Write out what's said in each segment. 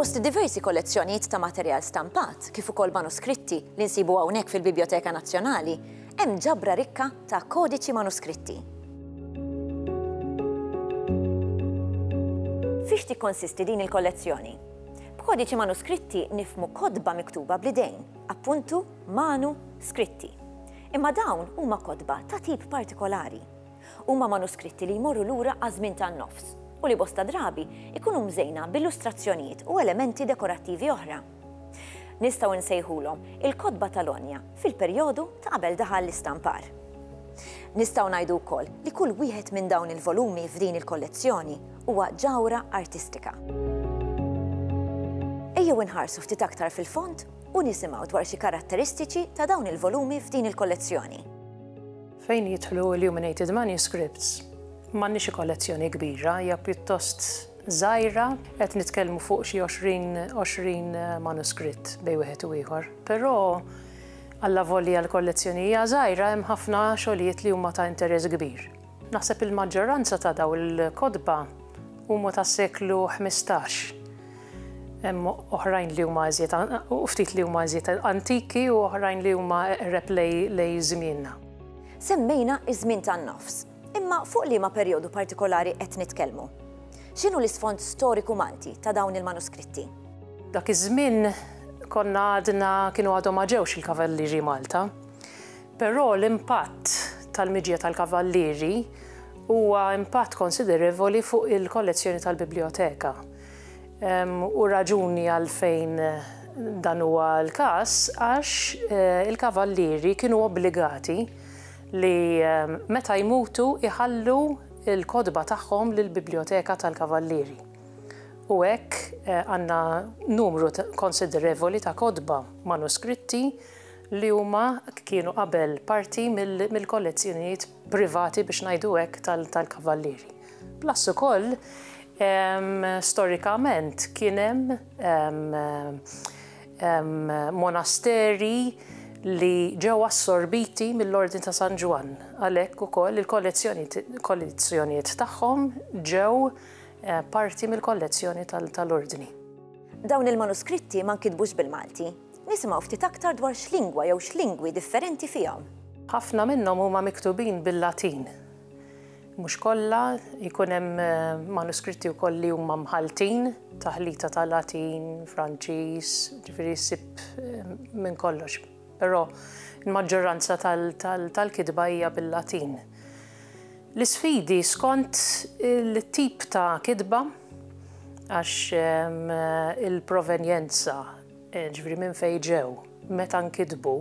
Fost diversi kollezzjonijiet ta' materjal stampat, kif ukoll manuskritti li nsibu hawnhekk fil-Biblioteka Nazzjonali, hemm ġabra rikka ta' kodiċi manuskritti. Fiex tikkonsisti din il-kollezzjoni? B'kodiċi manuskritti nifhmu kotba miktuba bl-idejn, appuntu, manu, skritti. Imma dawn huma kotba ta' tip partikolari. Huma manuskritti li jmorru lura għaż-żmien tan-nofs u li bosta drabi jkunu mżejna b'illustrazzjonijiet u elementi dekorattivi oħra. Nistgħu nsejħulhom il-kotba tal-għonja fil-perjodu ta' qabel daħal l-istampar. Nistgħu ngħidu wkoll li kull wieħed minn dawn il-volumi f'din il-kollezzjoni huwa ġawhra artistika. Ejjew inħarsu ftit aktar fil-fond u nisimgħu dwar xi karatteristiċi ta' dawn il-volumi f'din il-kollezzjoni. Fejn jidħlu illuminated manuscripts, m'għandniex xi kollezzjoni kbira, hija pjuttost żgħira, qed nitkellmu fuq xi 20 manuskritt bejn wieħed u ieħor. Però alla volja l-kollezzjoni hija żgħira hemm ħafna xogħlijiet li huma ta' interess kbir. Naħseb il-maġġoranza ta' dawn il-kotba huma tas-seklu ħmistax. Hemm oħrajn li huma iżjed u ftit li huma iżjed antiki u oħrajn li huma eqreb lej żmienna. Semmejna ż-żmien tan-nofs. Imma fuq liema perjodu partikolari qed nitkellmu? X'inhu l-isfond storiku Malti ta' dawn il-manuskritti? Dak iż-żmien konna għadna kienu għadhom ma ġewx il-Kavallieri Malta. Però l-impatt tal-miġja tal-Kavallieri huwa impatt konsiderevoli fuq il-kollezzjoni tal-Biblijoteka. U raġuni għalfejn dan huwa l-każ għax il-Kavallieri kienu obbligati li meta jmutu jħallu l-kotba tagħhom lill-Biblijoteka tal-Kavallieri. U hekk għandna numru konsiderevoli ta' kotba manuskritti li huma kienu qabel parti mill-kollezzjonijiet privati biex ngħidu hekk tal-Kavallieri. Plus ukoll storikament kien hemm monasteri li ġew assorbiti mill-Ordni ta' San Ġwann, għalhekk ukoll il-kollezzjonijiet tagħhom ġew parti mill-kollezzjoni tal-Ordni. Dawn il-manuskritti ma nkitbux bil-Malti. Nisimgħu ftit aktar dwar x'lingwa jew x'lingwi differenti fihom. Ħafna minnhom huma miktubin bil-Latin. Mhux kollha, jkun hemm manuskritti wkoll li huma mħalltin, taħlita ta' Latin, Franċiż, ġifieri ssib minn kollox. Però l-maġġoranza tal-kitba hija bil-Latin. L-isfidi skont it-tip ta' kitba, għax il-provenjenza, jiġifieri minn fejn ġew, meta nkitbu,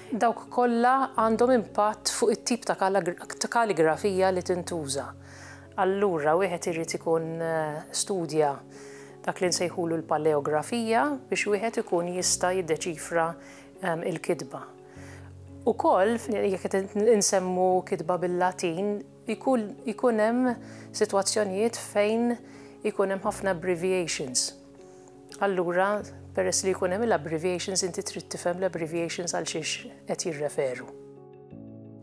dawk kollha għandhom impatt fuq it-tip ta' kaligrafija li tintuża. Allura wieħed irid ikun studja dak li nsejħulu l-paleografija biex wieħed ikun jista' jiddeċifra l-kitba. Ukoll jekk qed insemmu kitba bil-Latin ikun hemm sitwazzjonijiet fejn ikun hemm ħafna abbreviations. Allura, peress li jkun hemm il-abbreviations inti trid tifhem l-abbreviations għal xiex qed jirreferu.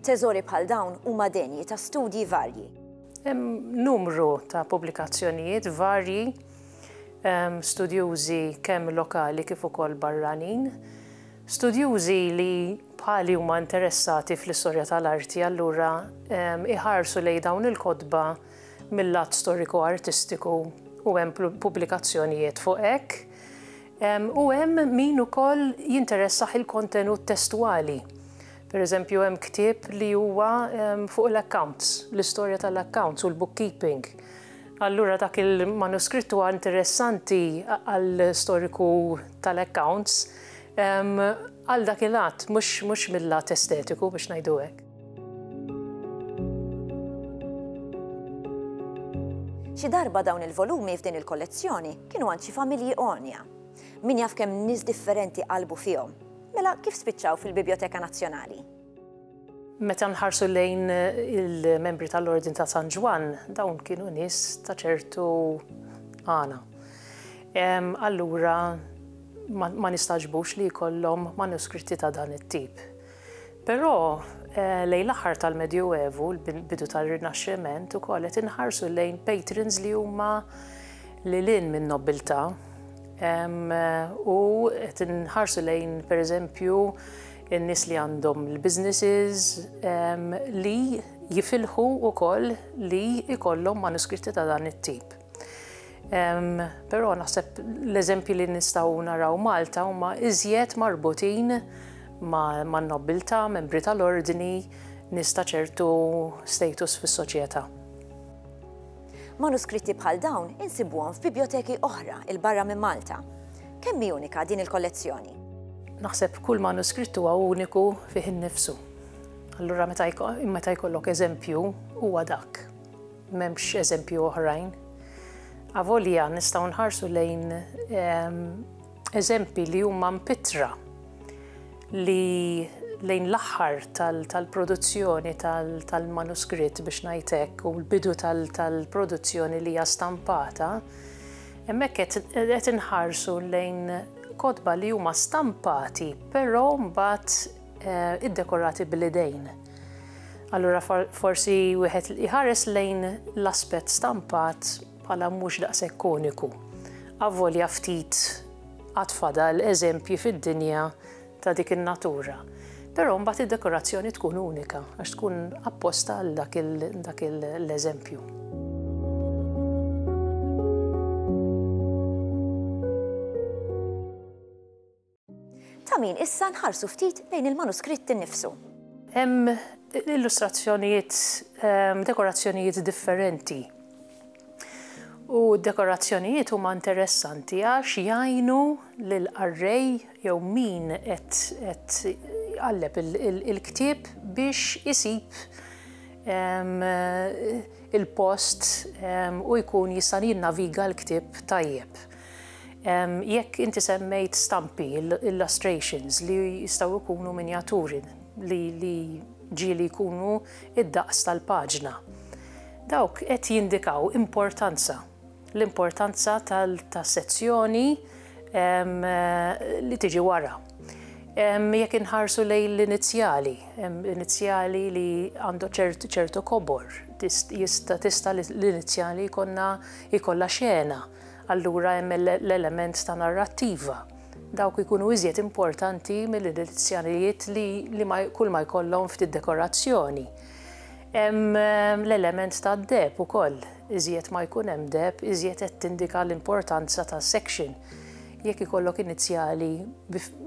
Teżori bħal dawn huma denji ta' studji varji. Hemm numru ta' pubblikazzjonijiet varji studjużi kemm lokali kif ukoll barranin, studjużi li bħali huma interessati fl-istorja tal-arti allura iħarsu lejn dawn il-kotba mill-lat storiku-artistiku u hemm pubblikazzjonijiet fuq hekk, u hemm min ukoll jinteressah il-kontenut testwali. Per eżempju, hemm ktieb li huwa fuq l-accounts, l-istorja tal-accounts u l-bookkeeping. Allura dak il-manuskritt huwa interessanti għal storiku tal-accounts għal dak il-att, mhux mill-lat estetiku biex ngħidu hekk. Xi darba dawn il-volumi f'din il-kollezzjoni kienu għand xi familji għonja. Min jaf kemm nies differenti qalbu fihom. Mela kif spiċċaw fil-Bibjoteka Nazzjonali? Meta nħarsu lejn il-membri tal-Ordin ta' San Ġwann, dawn kienu nies ta' ċertu għana. Allura ma nistaġbux li jkollhom manuskritti ta' dan it-tip. Però, lejn l-aħħar tal-Medjuevu, l-bidu tar-Rinaxximent, ukoll qed inħarsu lejn patrons li huma lil hinn min-nobbiltà u qed inħarsu lejn, pereżempju, in-nies li għandhom l-businesses li jifilħu wkoll li jkollhom manuskritti ta' dan it-tip. Però naħseb l-eżempji li nistgħu naraw Malta huma iżjed marbutin man nobbiltà, membri tal-ordni, nies ta' ċertu status fis-soċjetà. Manuskritti bħal dawn insibuhom f'bibjoteki oħra 'l barra minn Malta. Kemm hi unika din il-kollezzjoni? Naħseb kull manuskritt huwa uniku fih innifsu. Allura meta jkollok eżempju huwa dak. M'hemmx eżempji oħrajn. Avolja nistgħu nħarsu lejn ehm, eżempji li huma mpitra li lejn l-aħħar tal-produzzjoni tal-manuskritt biex ngħidlek u l-bidu tal-produzzjoni li hija stampata, hemmhekk qed inħarsu lejn kotba li huma stampati, però mbagħad iddekorati bl-idejn. Allura forsi wieħed iħares lejn l-aspett stampat bħala mhux daqshekk uniku. Avolja ftit għad fadal eżempji fid-dinja ta' dik in-natura. Però mbagħad id-dekorazzjoni tkun unika għax tkun apposta għal dak l-eżempju. Ta' min issa nħarsu ftit lejn il-manuskritt innifsu. Hemm illustrazzjonijiet, ehm, dekorazzjonijiet differenti. U dekorazzjonijiet huma interessanti għax jgħinu lil qarrej jew min qed jqalleb il-ktieb biex isib ehm, il-post ehm, u jkun jista' jinnaviga l-ktieb tajjeb. Jekk inti semmejt stampi, illustrations, li jistgħu jkunu minjaturi li ġieli jkunu id-daqs tal-paġna. Dawk qed jindikaw importanza, l-importanza tas-sezzjoni li tiġi wara. Jekk inħarsu lejn l-inizjali, inizjali li għandu ċertu kobor, jista' l-inizjali jkollha xena. Allura hemm l-element ta' narrattiva. Dawk ikunu iżjed importanti mill-inizjalijiet li, li ma, kull ma jkollhom ftit dekorazzjoni. Hemm ehm, l-element ta' deb ukoll. Iżjed ma jkun hemm deb, iżjed qed tindika l-importanza ta' section. Jekk ikollok inizjali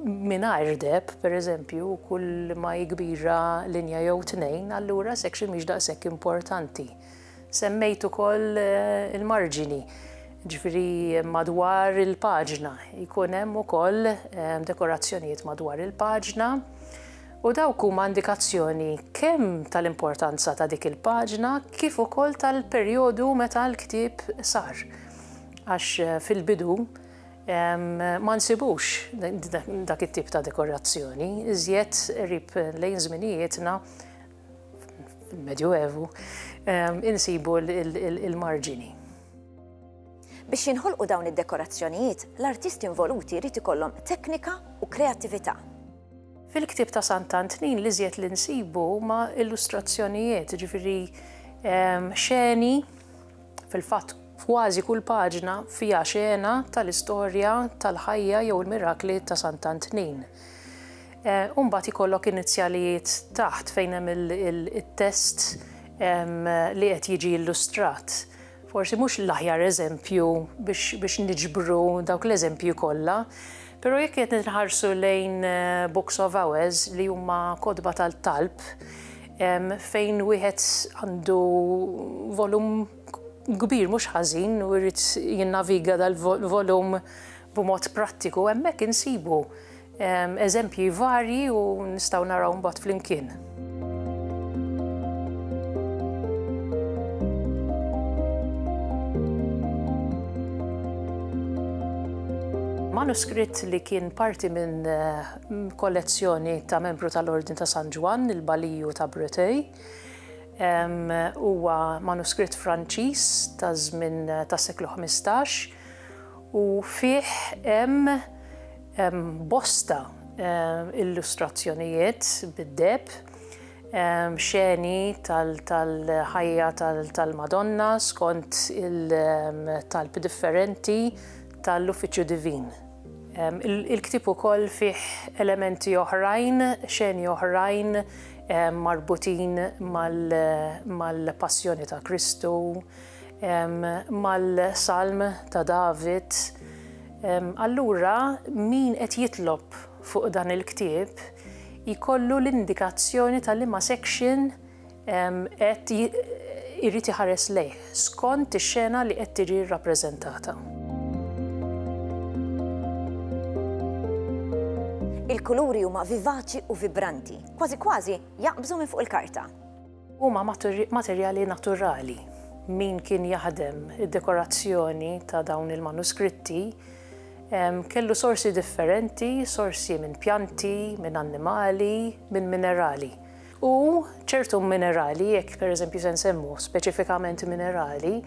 mingħajr deb, pereżempju, kull ma jikbira linja jew tnejn, allura section mhix daqshekk importanti. Semmejt ukoll il-marġini, ġifieri madwar il-paġna. Jkun hemm ukoll ehm, dekorazzjonijiet madwar il-paġna u dawk huma indikazzjoni kemm tal-importanza ta' dik il-paġna kif ukoll tal-perjodu meta l-ktieb sar. Għax eh, fil-bidu ma nsibux dak it-tip ta' dekorazzjoni, iżjed rib lejn żminijietna fil-Medjuevu, insibu l-marġini. Biex jinħolqu dawn id-dekorazzjonijiet, l-artisti involuti jrid ikollhom teknika u kreattività. Fil-ktieb ta' Sant'Antnin l-iżjed li nsibu huma illustrazzjonijiet, jiġifieri xeni, Fil-fatt, f'kważi kull paġna fiha xena tal-istorja tal-ħajja jew il-mirakli ta' Sant'Antnin. U mbagħad ikollok inizjalijiet taħt fejn hemm it-test li qed jiġi illustrat. Forsi mhux l-aħjar eżempju biex niġbru dawk l-eżempji kollha, però jekk qed inħarsu lejn Books of Hours li huma kotba tal-talb, fejn wieħed għandu volum kbir mhux ħażin u jrid jinnaviga dal-volum b'mod prattiku, hemmhekk insibu eżempji varji u nistgħu naraw mbagħad flimkien. Manuskritt li kien parti minn kollezzjoni ta' membru tal-Ordni ta' San Ġwann, il-Baliju ta' Breteuil. Huwa manuskritt Franċiż ta' żmien tas-seklu 15 u fih hemm bosta illustrazzjonijiet bid-deheb, xeni tal-ħajja tal-Madonna skont il-talb differenti ta' l-Uffiċċju Divin. Il-ktieb ukoll fih elementi oħrajn, xeni oħrajn marbutin mal-passjoni ta' Kristu, mal-salm ta' David. Allura min qed jitlob fuq dan il-ktieb jkollu l-indikazzjoni ta' liema section qed irid iħares lejh skont ix-xena li qed tiġi rrappreżentata. Il-kuluri huma vivaċi u vibranti, kważi kważi jaqbżu minn fuq il-karta. Huma materjali naturali. Min kien jaħdem id-dekorazzjoni ta' dawn il-manuskritti kellu sorsi differenti, sorsi minn pjanti, minn annimali, minn minerali. U ċertu minerali, jekk pereżempju se nsemmu speċifikament minerali,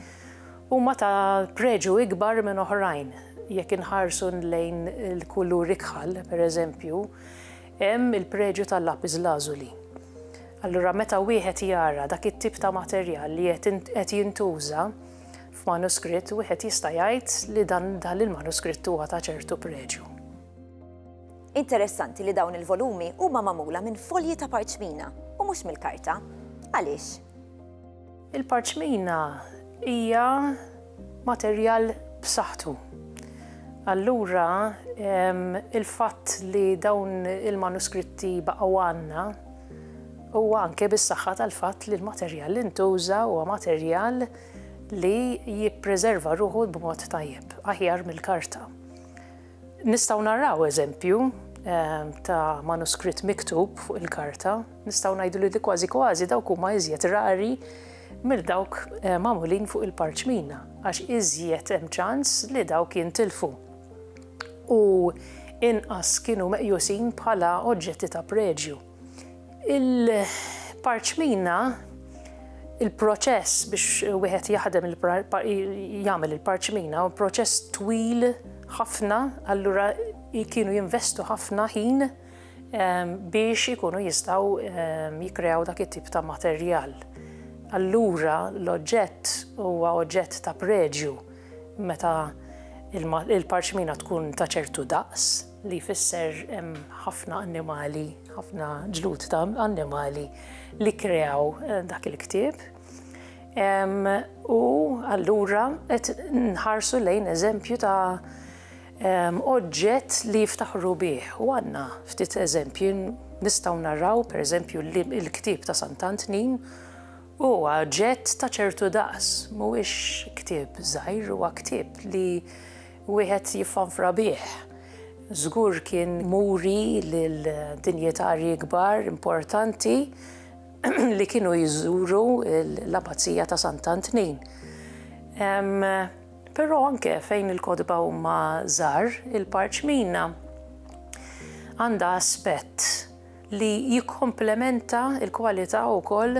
huma ta' preġu ikbar minn oħrajn. Jekk inħarsu lejn il-kulur ikħal, pereżempju, hemm il-preġu tal-lapis lazuli. Allura meta wieħed jara dak it-tip ta' materjal li qed jintuża f'manuskritt, wieħed jista' jgħid li dan il-manuskritt huwa ta' ċertu preġu. Interessanti li dawn il-volumi huma magħmula minn folji ta' parċmina u mhux mill-karta. Għaliex? Il-parċmina hija materjal b'saħħtu. Allura il-fatt li dawn il-manuskritti baqgħu għandna huwa anke bis-saħħa tal-fatt li l-materjal li ntuża huwa materjal li jippreserva ruħu b'mod tajjeb, aħjar mill-karta. Nistgħu naraw eżempju ta' manuskritt miktub fuq il-karta, nistgħu ngħidu li kważi kważi dawk huma iżjed rari mill dawk magħmulin fuq il-parċmina, għax iżjed hemm ċans li dawk jintilfu u inqas kienu meqjusin bħala oġġetti ta' preġju. Il-parċmina, il-proċess biex wieħed jaħdem jagħmel il-parċmina u proċess twil ħafna, allura kienu jinvestu ħafna ħin ehm, biex ikunu jistaw ehm, jikrew dak it-tip ta' materjal. Allura l-oġġett huwa oġġett ta' preġju meta il-parċmina tkun ta' ċertu daqs. li jfisser hemm ħafna annimali, ħafna ġlud ta' annimali li kreaw eh, dak il-ktieb. U allura qed nħarsu lejn eżempju ta' oġġett li jiftaħru bih. U għanna ftit eżempju nistaw narraw per eżempju il-ktib ta' Sant'Antnin u oġġett ta' ċertu daqs, mhuwiex ktib żgħir huwa ktib li Wieħed jiffanfra bih. Żgur kien muri lil dinjetarji kbar importanti li kienu jżuru l-Abazija ta' Sant'Antnin. Però anke fejn il-kotba huma żgħar, il-parċmina għandha aspett li jikkomplementa l-kwalità wkoll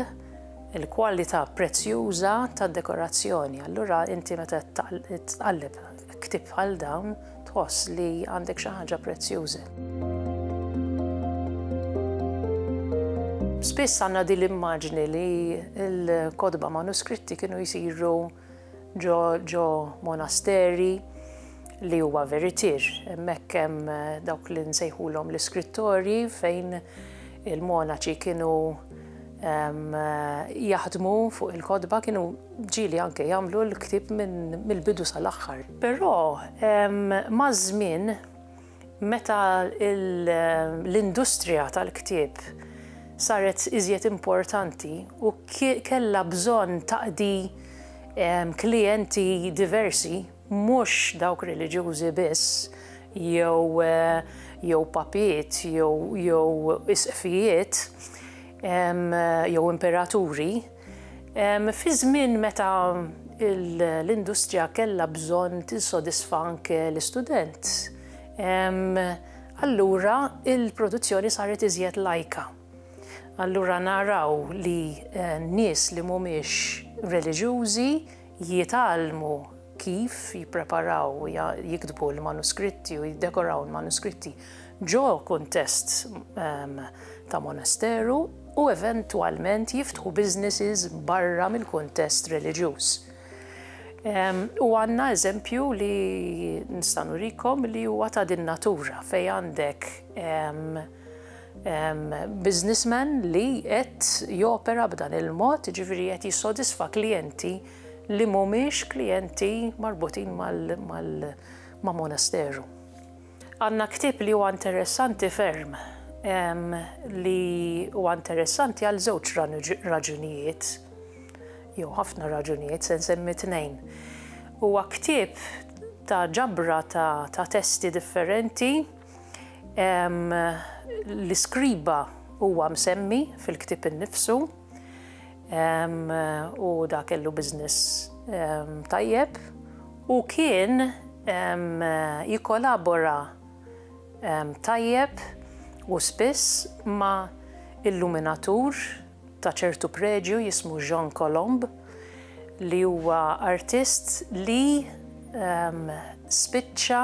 il-kwalità prezzjuża tad-dekorazzjoni. Allura inti meta tqalleb ktieb bħal dawn tħoss li għandek xi ħaġa prezzjuża. Spiss għandna din l-immaġni li l-kotba manuskritti kienu jsiru ġo monasteri li huwa veritier. Hemmhekk hemm eh, dawk li nsejħulhom l-iskrittorji fejn il-monaċi kienu eh, jaħdmu fuq il-kodba kienu ġili anke jagħmlu l-ktib mill-bidu sal-aħħar. Però maż-żmien Meta l-industrija tal-ktieb saret iżjed importanti u kellha bżonn taqdi klijenti diversi, mhux dawk reliġjużi biss jew papiet jew isqfijiet jew imperaturi, Fi żmien meta l-industrija kellha bżonn tinsodisfa anke l-istudent, allura l-produzzjoni saret iżjed lajka. Allura naraw li nies li mhumiex reliġjużi, jitgħallmu kif jippreparaw u jiktbu l-manuskritti u jiddekoraw l-manuskritti ġo kuntest ehm, ta' monasteru u eventwalment jiftħu businesses barra mill-kuntest reliġjuż. Ehm, u għanna eżempju li nistanu rikom li huwa ta' din natura fej għandek ehm, businessman li qed jopera b'dan il-mod, ġifieri qed jissodisfa klijenti li mhumiex klijenti marbutin ma' monasteru. Għandna ktieb li huwa interessanti ferm li huwa interessanti għal żewġ raġunijiet, jew ħafna raġunijiet, se nsemmi tnejn. Huwa ktieb ta' ġabra ta' testi differenti L-iskriba huwa msemmi fil-ktieb innifsu u dak kellu business tajjeb u kien jikkolabora tajjeb u spiss ma' illuminatur ta' ċertu preġju jismu Jean Colomb li huwa artist li spiċċa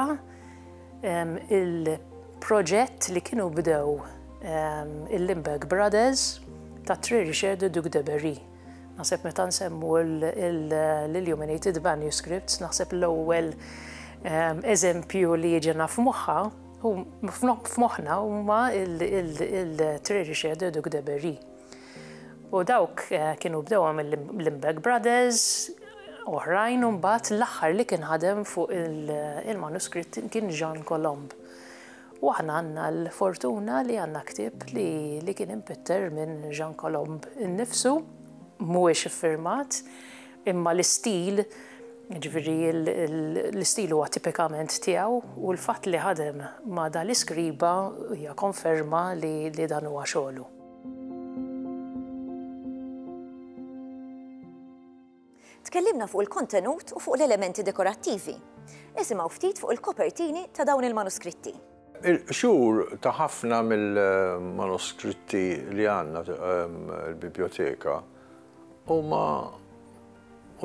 il-proġett li kienu bdew il-Limburg Brothers ta' Tri Richard de Duc de Berry. Naħseb meta nsemmu l-Illuminated Manuscripts, naħseb l-ewwel eżempju li jiġena f'moħħa f'moħħna huma il-Tri Richard de Duc de Berry. U dawk eh, kienu bdewha mill-Limbeck Brothers, oħrajn u mbagħad l-aħħar li kien ħadem fuq il-manuskritt kien Jean Colomb. U aħna għandna l-fortuna li għandna ktib li kien impitter minn Jean Colomb innifsu, mhuwiex iffirmat, imma l-istil Ġviri l-istil huwa tipikament tiegħu u l-fatt li ħadem ma' dal-iskriba hija konferma li dan huwa xogħlu. Tkellimna fuq il-kontenut u fuq l-elementi dekorattivi. Isimgħu ftit fuq il-kopertini ta' dawn il-manuskritti. Il-qxur ta' ħafna mill-manuskritti li għandna l-bibljoteka huma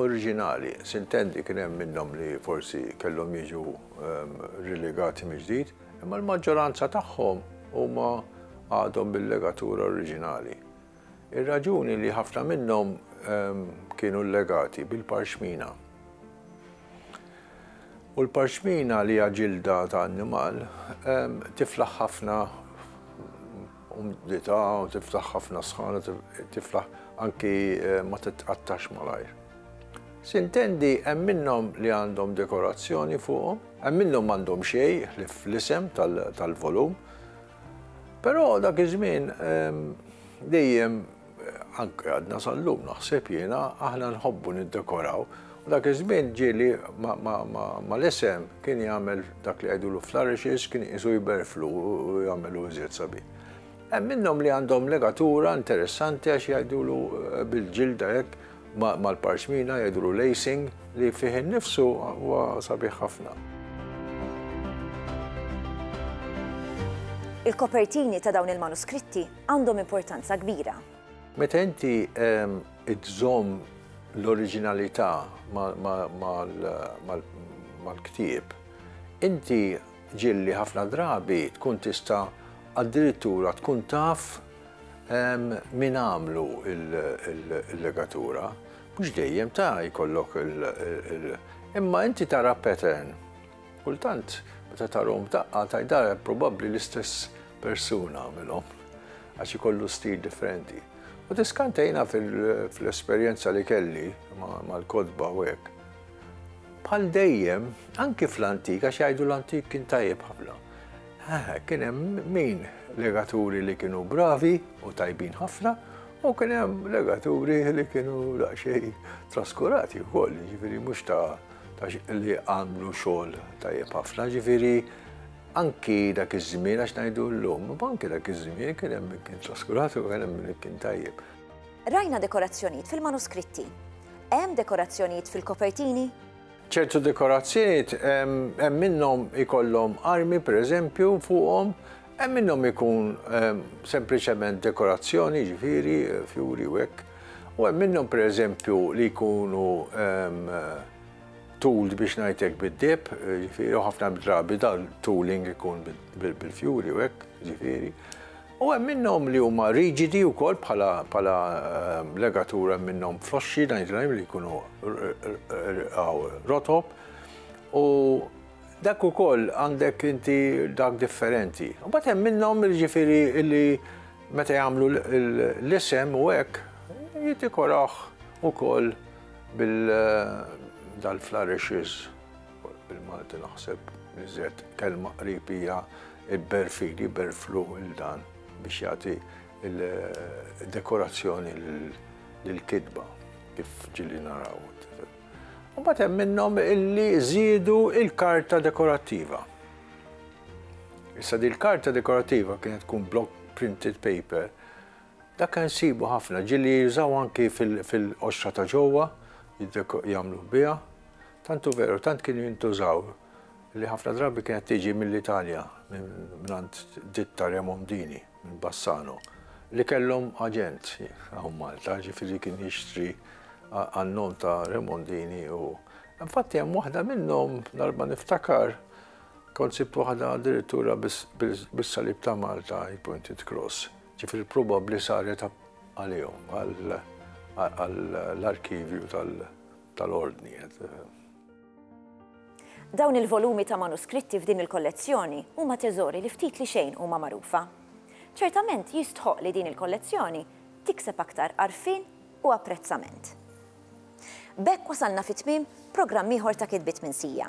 oriġinali, sintendi kien hemm minnhom li forsi kellhom jiġu rilegati mill-ġdid, imma l-maġġoranza tagħhom huma għadhom bil-legatura oriġinali. Ir-raġuni li ħafna minnhom kienu llegati bil-parxmina. U l-parxmina li hija ġilda ta' annimal tiflaħ ħafna u mditha u tiftaħ ħafna sħana tiflaħ anki eh, ma titqattax malajr. Sintendi hemm minnhom li għandhom dekorazzjoni fuqhom, hemm minnhom għandhom xej li fl-isem tal-volum. Però dak iż-żmien ehm, dejjem Anke għadna sal-lum, naħseb jiena, aħna nħobbu niddekoraw. U dak iż-żmien ġieli mal-isem kien jagħmel dak li jgħidulu flourishes, kien iqisu jberflu u jagħmelu iżjed sabiħ. Hemm minnhom li għandhom legatura interessanti għax jgħidulu bil-ġilda hekk mal-parxmina jgħidulu lacing li fih innifsu huwa sabiħ ħafna. Il-kopertini ta' dawn il-manuskritti għandhom importanza kbira. Meta inti żżomm l-oriġinalità mal-ktieb, inti ġieli ħafna drabi tkun tista' addirittura tkun taf min għamlu l-legatura. Mhux dejjem ta' jkollok il-, imma inti tara pattern. Kultant meta tarahom f'daqqa tgħidha probabbli l-istess persuna għamilhom għax ikollu stil differenti. U tiskantejna fl-esperjenza li kelli mal-kotba u hekk. Bħal dejjem, anki fl-antik, għax jgħidu l-antik kien tajjeb ħafna. Kien hemm min legaturi li kienu bravi u tajbin ħafna, u kien hemm legaturi li kienu daqsxejn traskurati wkoll, jiġifieri mhux ta' għax li għamlu xogħol tajjeb ħafna, ġifieri anki dak iż-żmien għax ngħidu llum, anki dak iż-żmien kien hemm min kien traskurat u kien hemm min kien tajjeb. Rajna dekorazzjonijiet fil-manuskritti. Hemm dekorazzjonijiet fil-kopertini? ċertu dekorazzjonijiet hemm minnhom ikollhom armi pereżempju fuqhom, hemm minnhom ikun sempliċement dekorazzjoni, ġifieri, fjuri u hekk. U hemm minnhom pereżempju li jkunu tooled biex ngħidlek bid-deheb, ġifieri, u ħafna drabi dan tooling ikun bil-fjuri u hekk, ġifieri. U hemm minnhom li huma riġidi wkoll bħala bħala ehm, legatur hemm minnhom floxxi ngħidlhom li jkunu rotob. U dak ukoll għandek inti dak differenti. U bat hemm minnhom jiġifieri li Meta jagħmlu l-isem u hekk, jidikorawh ukoll bil-dal-flourishes, bil-Malti naħseb iżjed kelma qrib hija l-berfili, berflu il-dan biex jagħti l-dekorazzjoni lill-kitba kif ġieli naraw. Imbagħad hemm minnhom illi żiedu l-karta dekorattiva. Issa dil-karta dekorattiva kienet tkun block printed paper. Dak kien sibu ħafna, ġili jużaw anki fil-qoxra ta' ġewwa, jagħmluh biha. Tantu veru, tant kienu jintużaw li ħafna drabi kienet tiġi mill-Italja, minn għand ditta Remondini, minn Bassano, li kellhom aġent hawn Malta, ġifieri kien jixtri għan-nom ta' Remondini u. Infatti hemm waħda minnhom, darba niftakar, Kont sibt waħda addirittura bis-salib ta' Malta pointed cross, ġifieri probabbli saret għalihom, għall-arkivju tal-Ordni. Dawn il-volumi ta' manuskritti f'din il-kollezzjoni huma teżori li ftit li xejn huma magħrufa. Ċertament jistħoqq li din il-kollezzjoni tikseb aktar għarfien u apprezzament. B'hekk wasalna fi tmiem programm ieħor ta' Kitbiet Minsija.